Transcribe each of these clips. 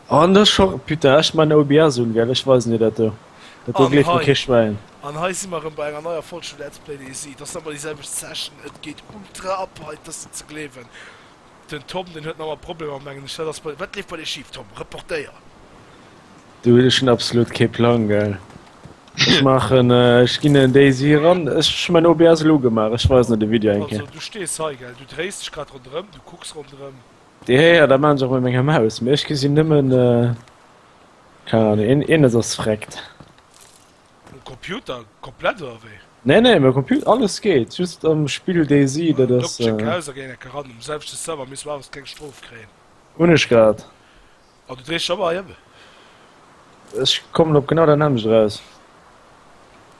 An der scho putain ech mein OBS un gell ech weisen dir dat do dat do gleeft mer kee Schwein. An hei si mer erëm bei enger neier Folg vum Let's Play DayZ. Et ass nach emmer déi selwecht Session, et geet ultra ab hei, et ass net ze gleewen. Den Tom deen huet nach emmer Problemer mengen ech, wat ass bei, wat leeft bei dir schif Tom? Reportéier! Du ech hunn absolut kee Plang gell. Ech maachen ech ginn en DayZ eran, ech ech hunn mäin OBS elo ugemaach, ech weisen der de Video eng Kéier. Also du stees hei gell, du dréis dech grad ronderëm, du kucks ronderëm. Déi héier dat man sech mat menger Maus méch gesinn nëmmen een ass ass freckt. Um Computer komplett oder wéi? Nee nee um Computer alles geet just am Spill Daisy dat ass. Dock check aus a géi eng Kéier ran um selwechte Server misst du awer keng Strof kréien. Hunn ech grad. Oh, du dréis schon mei em. Ech kommen op genau der nemlecht eraus.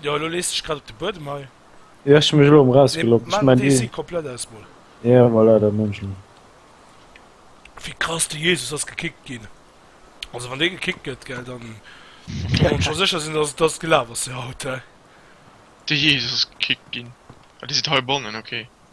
Jo, elo lees dech grad op de Buedem hei. Jo, ech hun mech elo erem erausgeloggt. Ech man dc komplett aus mol. Jo, voilà, dat man ech elo. Wéi krass de Jesus ass gekickt gin. Also wann dee gekickt gët, gell, dann kann een scho sécher sin, dass et dass gelaf ass, jo, haut, hä? De Jesus ass gekickt gin. Ah, dir sidd heibannen, okay.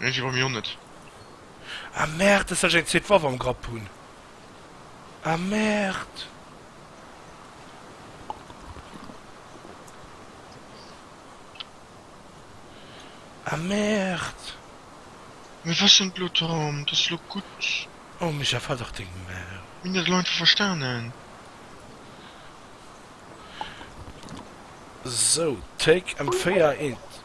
Ech si bei mir och net. Ah merde, dass ech eng zweet Waff am Grapp hunn. Ah merde. Ah merde. Mir wëssen et lo Tom, et ass lo gutt. Oh Micha, faal dach deng Mär. Mir hunn dat elo einfach verstanen. Sou, take em 4 int.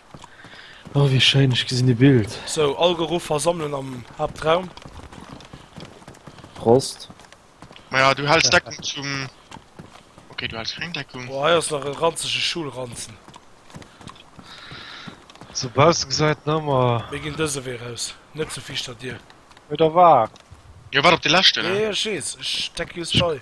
Oh wéi schéin, ech gesinn e Bild. Sou, all Geruch versammelen am Haaptraum. Prost. Maja du häls Deckung zum. Ok du häls keng Deckung. Boah hei ass nach e ranzege Schulranzen. Sou baussen gesäit en emmer. Mir ginn dëse Wee raus, net zu viischter Dier. Mee da war. Jo waart op de leschten. Jo jo ech weess, ech decken just hei.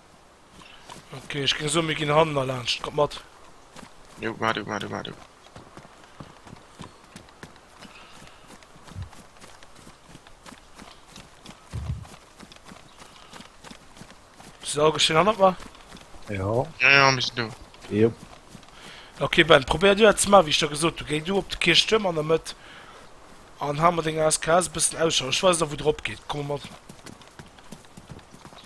Okay, ech ging so mir gin han laanscht kommt mat Jo war du war du war du So geschehen han war Ja Ja ja mis du Yep Okay ben probär du ze ma wie ich da gesot du géi du op de Kirchtürm an der Mëtt an ha mat denger SKS bisssen ausschau ich weis da wo drop geht kom mat.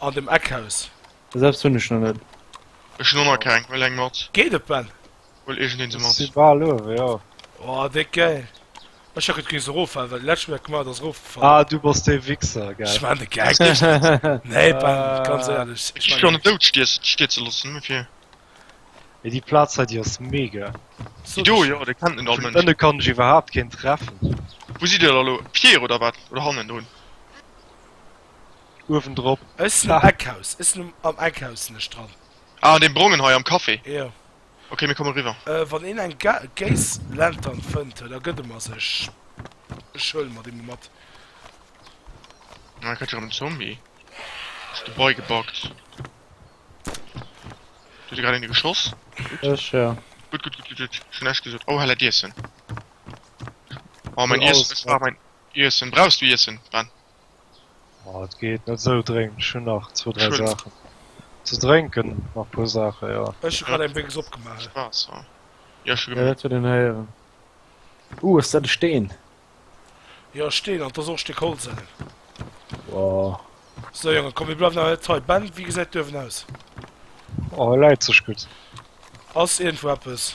An dem Eckhaus. Selbst hun ech no net. Ech hun o nach keng, huel eng mat. Geet et Ben? Huel iergendeen se mat. Si bal uewe jo. Oh déck geil. Ech hat geduet gees erof falen well lescht mol hat gemaach et ass erof gefall. Ah du bass dee Wichser gell. Ech maan de Gag. Nee Ben ganz éierlech. Ech gi an doud stierze lossen mir fir. Mee déi Plaatz hei déi ass mega. Déi do jo déi kennt net all Mënsch. Vun ënne kann ech iwwerhaapt keen treffen. Wou sidd dir da lo? Pier oder wat? Oder hannen drun? uewen drop. Ech sinn am Eckhaus, ech sinn am Eckhaus sinn ech dran. Ah an deem brongen hei am Café? Jo. Ok mir kommen eriwwer. Wann een eng Gaslantern fënnt da gëtt e mer se, ech huelen mer déi mol mat. Ah et kënnt jo erëm en Zombie aus de Bei gebackt. Do huet grad een e geschoss. Ech jo. Gutt gutt gutt gutt ech hunn Ech gesot. Oh hell dat Iessen. Oh mäin Iessen, ech brauch mäin Iessen. Brauchs du Iessen Ben? Oh, et geet net sou dréngend. Ech hunn nach zwou, dräi Saachen ze drénken. Nach puer Saache, jo. Ech hu grad eng Bécks opgemaach. Waasser. Jo, ech hu gemengt. Ja, dat wëll een héieren. Ooh, ass dat e Steen? Jo, e Steen, an et ass och e Stéck Holz engen. Wow. Sou, Jongen, komm, mir bleiwen awer net hei. Ben, wéi gesäit d'Uewen aus? Oh, e läit sech gutt. Ass iergendwou eppes?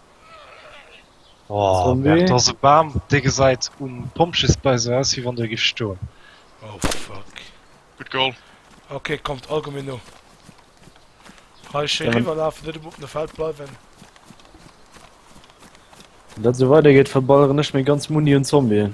Oh, Bert, da se Bam, dee gesäit um Pompjeesbäi esou aus, wéi wann der giff stoen. Oh fuck. Gutt geholl. Ok, kommt all gemi no. Hei schéi riwwerlafen, net um oppene Feld bleiwen. Wann dat esou weidergeet, verballeren ech meng ganz Muni un Zombien.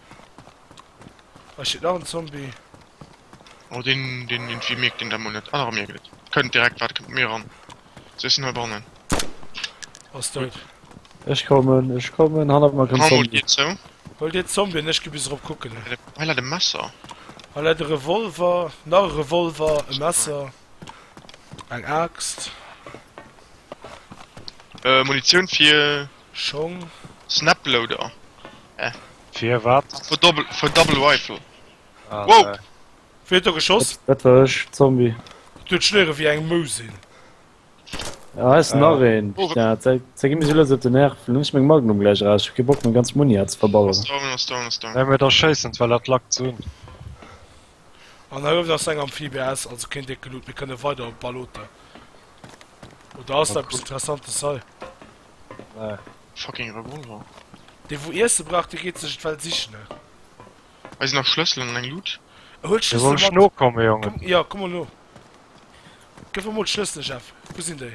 Da steet nach en Zombie. Oh, deen, deen irgendwie mierkt deen dat mol net. Ah, mierkt et. Kënnt direkt, waart, kënnt mir eran. Se sinn hei bannen. Ass dout. Ech kommen, ech kommen, hannert mer kënnt Zombie. Geet zou. Huel dir Zombien, ech gi bis erop kucken. Hei läit e Messer. Hei läit e Revolver, nach e Revolver, e Messer, eng Aaxt. Äh, Munitioun fir. Schong. Snap Loader eh. Fir wat? For double rifle wow. Wien huet do geschoss? Dat war ech, Zombie. Et huet Schnéier ewéi eng Mousin. Ah hei ass nach een. Putain, dat geet mir sou lues op de Nerv. Hunn ech meng Magnum gläich eraus. Ech hu kee Bock meng ganz Muni hei ze verballeren. Ass down, ass down, ass down. Hei mir da schéissen, d'well dat lackt ze hunn. An hei uewen ass eng am VBS, also keen décke Loot. Mir kënne weider op Balota. Oder ass nach eppes Interessantes hei? Nee. Fucking Revolver. Dee wou Iesse brauch dee geet sech et well sichen ne? Hei sinn nach Schlësselen an eng Loot. Huel Mir solle Schlëssel mat. nokomme Jongen. Komm, ja komm mol lo. Gëff emol d'Schlësselen Jeff. Wou sinn déi?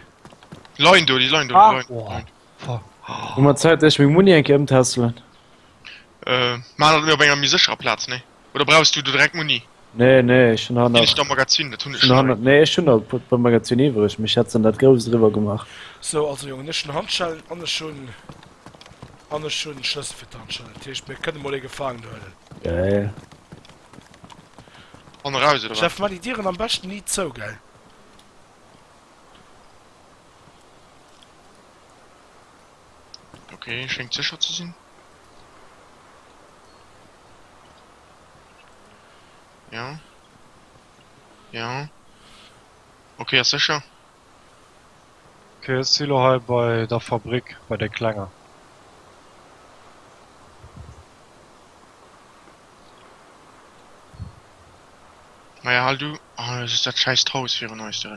Déi leien do, déi leien do, déi Ah. leien do. Oh. Fuck. Hu mer Zäit ech meng Muni eng Kéier ëmtässelen? Äh, man dat op enger méi sécherer Plaz nee. Oder brauchs du do direkt Muni? Nee, nee, ech hunn han nach. Magazin, dat hunn ech han nach. Nee, ech hunn nach e puer Magazin iwwreg, mee ech hätt se an dat grousst eriwwer gemaach. Sou, also Jongen, ech hunn Handschellen an ech hunn. An ech hunn e Schlëssel fir d'Handschellen. Dat heescht, mir kënnen mol ee gefaangen huelen. Geil. An eraus, oder wat? Jeff, man déi Dieren am beschten ni zou, gell? Ok, schéngt sécher ze sinn. Ja. Ja. Okay, ass sécher. Okay, ech si lo hei bei der Fabrik, bei där klenger. Maja, hal du. Oh, et ass dat schäisst Haus virun eis do.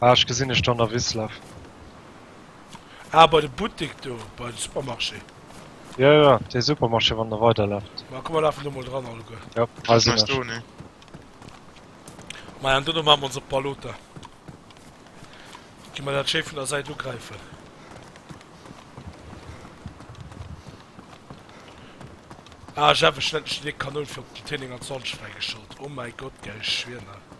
Ah ech gesin ech do an der Wislef. Ah bei de Buttik do, bei de Supermarché. Jo jo, dee Supermarché wann der weider left. Ma komm mer lafen do mol dran alleguer. Jo hei sin ech. Maja an dono man mer ons op Balota. Gi mer dat schéi vun der Säit ugräifen. Ah Jeff ech net mech den Eek Kanoun fir op den T29 fräigeschalt. Oh mäi Gott gell ech schwier ner.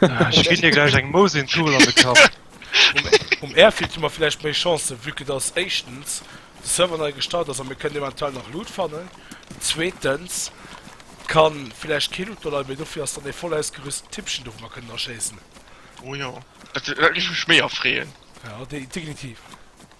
Ech ginn dir gläich eng Mousenkugel an de Kapp. Um Airfield hu mer vläicht méi Chancen, vue que dass éischtens de Server nei gestart ass a mir kënnen eventuell nach Loot fannen. Zweetens ka vläicht kee Loot do leien, mee dofir ass dann ee voll ausgerüsten Tippchen do, wou mer kënnen erschéissen. Oh jo, dat géif mech méi erfreeën. Ja, definitiv.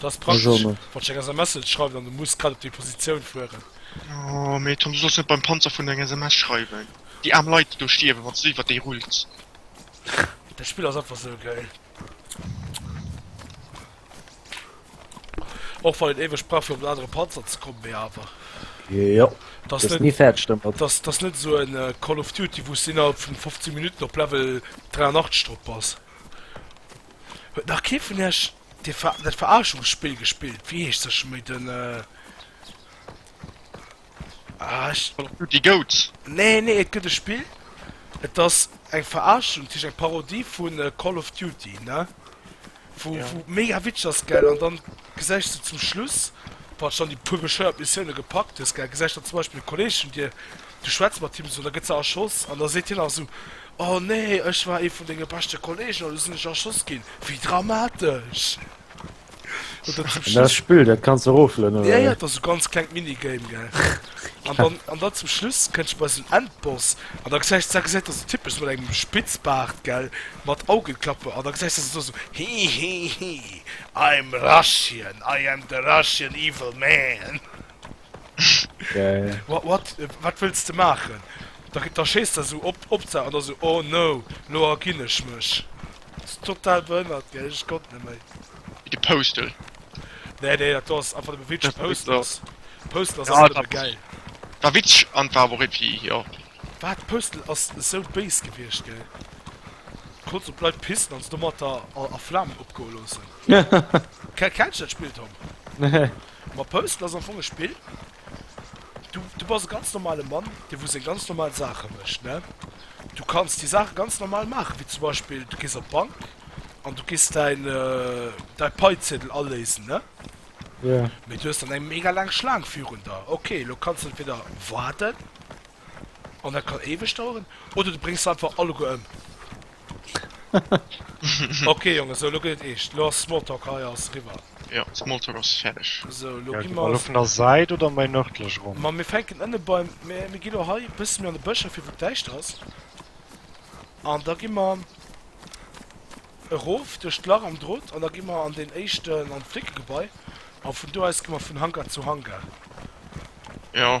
Dat ass praktesch, Bonjour, Matt. wann ech eng SMS wëll schreiwen an du muss grad op déi Positioun fueren. Oh, mee Tom, du solls net beim Panzerfund eng SMS schreiwen. Déi aarm Leit, déi do stierwen, wann s du iwwert déi rulls. Dat Spill ass einfach sou gei. Och wann et éiweg brauch fir op den anere Panzer ze kommen, mee awer. Jo, Dat ass bist net, nie fertig damit. dat, dat ass net sou en äh, Call of Duty, wou s innerhalb vun 15 Minutten op Level 83 drop bass. Huet nach kee vun iech Dat Verarschungsspill gespillt, wéi heescht sech méi den Goat? Nee nee et gëtt e Spill et ass eng Verarschung tech eng Parodie vun Call of Duty ne vu mega witg ass gell an dann gesäichs du zum Schluss wat schon die pu bescheuert Missioune gepackt hues gell gesäichs dann zum Beispiel Kolleg vun dir du schwätz mat him sou da gëtt se erschoss an da seet hien nach sou. Oh nee, ech war ee vun denge beschte Kollegen an elo sinn ech erschoss ginn. Wéi dramatesch! huet der zum Schluss. Dat Spill, dat kanns de eroflueden, oder? Ja, ja, dat ass e ganz klengt Minigame, gell. An dann, an dann zum Schluss kënnt bei esou en Endboss an da gesäis, da gesäit der esou Typesch mat engem Spitzbaart, gell, mat Augenklappe an da gesäis de se do esou, Hi, hi, hi, I'm Russian, I am the Russian evil man. Geil. What, what, wat wëlls de maachen? Da ge-, da schéisst der sou op, op se an da sou, oh no, lo erginn ech mech. Ass total behënnert, gell? Ech konnt net méi. Wéi de Postal. Nee, nee, dat do ass einfach nëmme Witz. Postals, Postals ass nëmme gäil. War witzeg an war awer och épwii, jo. Wat? Postal ass sou béis gewiescht, gell? Konns op Leit pissen an se domatter a Flamen opgoe loossen. Ke-, kenns de dat Spill, Tom? Nee. Ma posten ass am Fong e Spill. Du, du bass e ganz normale Mann, dee wou seng ganz normal Saache mécht, ne? Du kanns déi Saache ganz normal maachen, wéi zum Beispill du gees op d'Bank an du gees däin, däi Paiziedel aléisen, ne? Ja. Mee du hues dann eng mega laang Schlaang virun der. Okay, elo kanns de entweder waarden. An dat kann éiweg daueren. Oder du bréngs se einfach alleguer ëm. Ok Jongen, esou elo gëtt et eescht. Elo ass Smalltalk hei ass riwwer. Jo, Smalltalk ass fäerdeg. Esou, elo gi mer. Gi mer elo vun der Säit oder méi nërdlech ronn? Ma mir fänken ënne beim. Mir gi elo hei e bësse méi an de Bësch ervir, wou et däischter ass. An da gi mer erof duerch d'Lach am Drot an da gi mer an deen éischten, an d'Flickegebai. A vun do aus gi mer vun Hangar zu Hangar. Jo.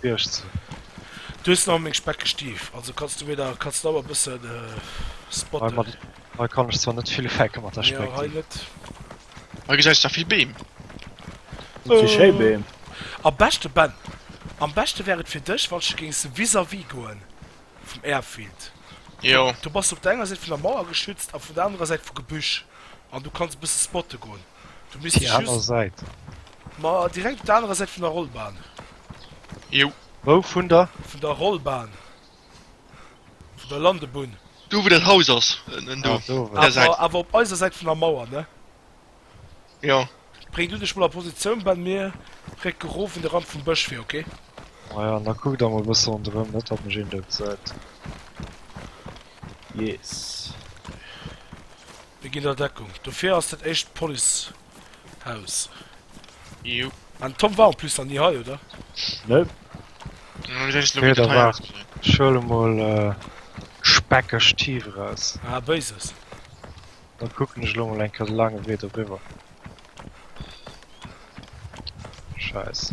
16. Du hues nach meng speckeg Stief, also kanns du mir da kanns du awer e bësse spotten. Hei mat hei kann ech zwar net vill fake mat der Speckdief. Nee, hei net. Hei gesäit ech da vill Beem. Dat si schéi Beem. Am beschte Ben, am beschte wär et fir dech wann s de géings vis-à-vis goen vum Airfield. Jo. Du bass op der enger Säit vun der Mauer geschützt a vun der anerer Säit vu Gebüsch an du kanns e bësse spotte goen. Du misst dich just... Seit. Ma direkt op der anerer Säit vun der Rollbahn. Jo. Wou vun der? Vun der Rollbahn. Vun der Landebunn. Do wou dat Haus ass. Ënnen do. Ah, do awer, awer op eiser Säit vun der Mauer, ne? Jo. Bréng du dech mol a Positioun, Ben. Mir récken erof un de Rand vum Bësch vir, okay? Ah ja, da kuck da mol e bësse ronderëm, net datt mech een dout seet. Yes. Mir ginn der Deckung. Dofir ass dat éischt d'Policehaus. Jup. An den Tom war en plus nach ni hei, oder? Nope. Fir der war. Ech huelen emol speckeg Tieferes. Ah, Béises. Da kucken ech elo emol eng Kéier de laange Wee doriwwer. Schäiss.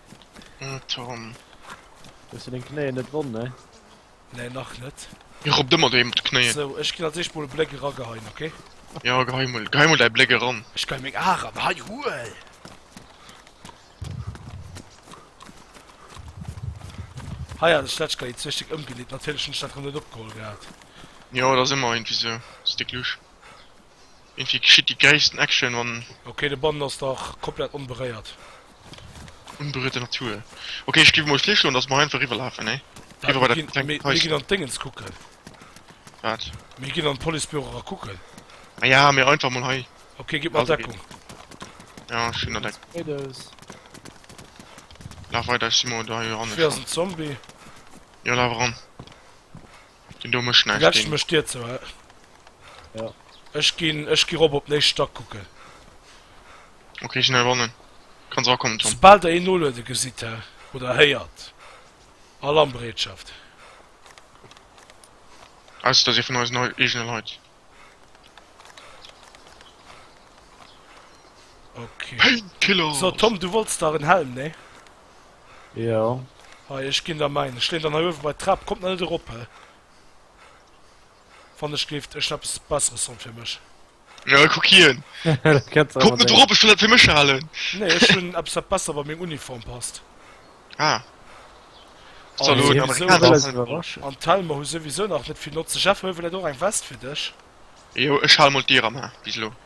Hm, Tom. Du hues dir deng Knéien net wonn, ne? Nee, nach net. Jo, rop de mol doheem op d'Knéien. Sou, ech ginn als éischt mol e Bléck erageheien, ok? Jo, gehei mol, gehei mol däi Bléck eran. Ech geheien meng Ae ran. Hei, huel! Hei hat ech d'lescht Kéier déi zwee Stéck ëmgeleet, natierlech hunn ech dat erëm net opgeholl gehat. Jo, dat ass ëmmer iergendwéi sou, Stéck Luusch. Irgendwie geschitt déi gréissten Action wann. Ok, de Band ass dach komplett onberéiert. Unberührte Natur. Ok, ech gi mol virschloen dass mer einfach riwwer lafen, nee? Wat, mir ginn, mir, mir ginn an d'Déngens kucken. Wat? Mir ginn an d'Policebüro era kucken. Ah ja, mee einfach mol hei. Ok, gitt mer Also, Deckung. Ja, ech ginn der Deckung. Als Zweites. Laf weider, ech si mol do hei Wéi ass eran. en Zombie? Jo, laf eran. Den do mécht näischt, Läscht deen. mécht d'Dier zou, hä? Jo. Ech ginn, ech gi rop op den éischt Stack kucken. Ok, sinn hei bannen. Kanns erakommen, Tom. Soubal der een noluede gesitt, hä? Oder héiert. Alarmbereetschaft. Ausser et ass ee vun eisen ei, eegene Leit. Ok. Painkiller! So, Tom, du wollts dach en Helm, nee? Jo. Hei, ech ginn der mäin. Ech leeën dann hei uewe bei d'Trap. Kommt nach net erop, hä? Fannech géif ech eppes Besseres fanne fir mech. Jo, da kuck hien. Kommt net erop, ech wëll dat fir mech halen. Nee, ech hunn eppes, wat besser bei meng Uniform passt. Ah. An d'Helmer hu souwisou nach net vill Notze. Jeff, huewen et och eng Vest fir dech? Jo, ech hale mol d'Dier am A bis elo.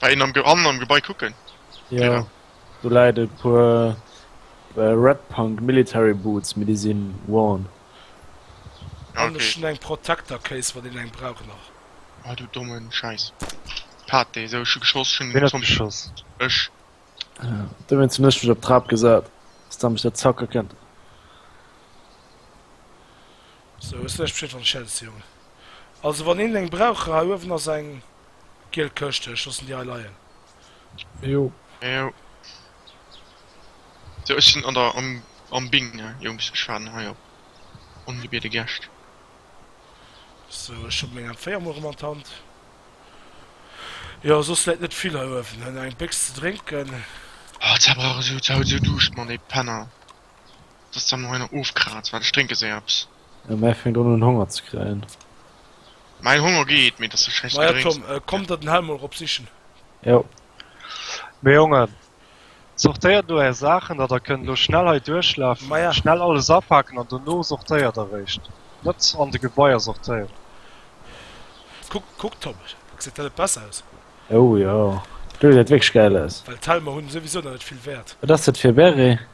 Bei een am an am Gebai kucken jo do läit e puer Red Punk Military Boots mee déi sinn worn. An ech hunn eng Protector Case wann een eng brauch nach. Oh du dommen Scheiss Pate esou ech hu geschoss ween huet geschoss ech dowéinst hunn ech mech op d'Trap gesat dass der mech net zacke kënnt. Sou, hues Recht beschéit wann ech hellst si, Jong. Also wann een eng brauch, hei uewen ass eng giel Këscht, ech loossen déi hei leien. Jo. Jo. Sou, ech sinn an der am Bing, ne Jungs, ech waarden hei op ongebiede Gäscht. Sou, ech huppen meng M4 och mol erëm an d'Hand. Jo, soss läit net vill hei uewen, eng Béchs ze drénken. Oh, d'Sabra ass haut esou duuscht, Mann, ee Penner. Dass der mol einer ofkraatzt, waat ech drénken se eppes. Jo mä fänkt un un Honger ze kréien. Mäin Honger geet, mee dass de scheiss Gedrénks. Maja Tom, komm der den Hell mol rop sichen. Jo. Mee Jongen, sortéiert elo är Saachen, datt der kënnt elo schnell hei duerchlafen. Maja. Schnell alles apaken an dono sortéiert der eréischt. Net an de Gebaier sortéieren. Kuck, kuck Tom, gesäit dat net besser aus? Oh jo, do gesäit et wierklech gäil aus. Well d'Helmer hunn souwisou nach net vill Wäert. Wat ass dat fir e Beret?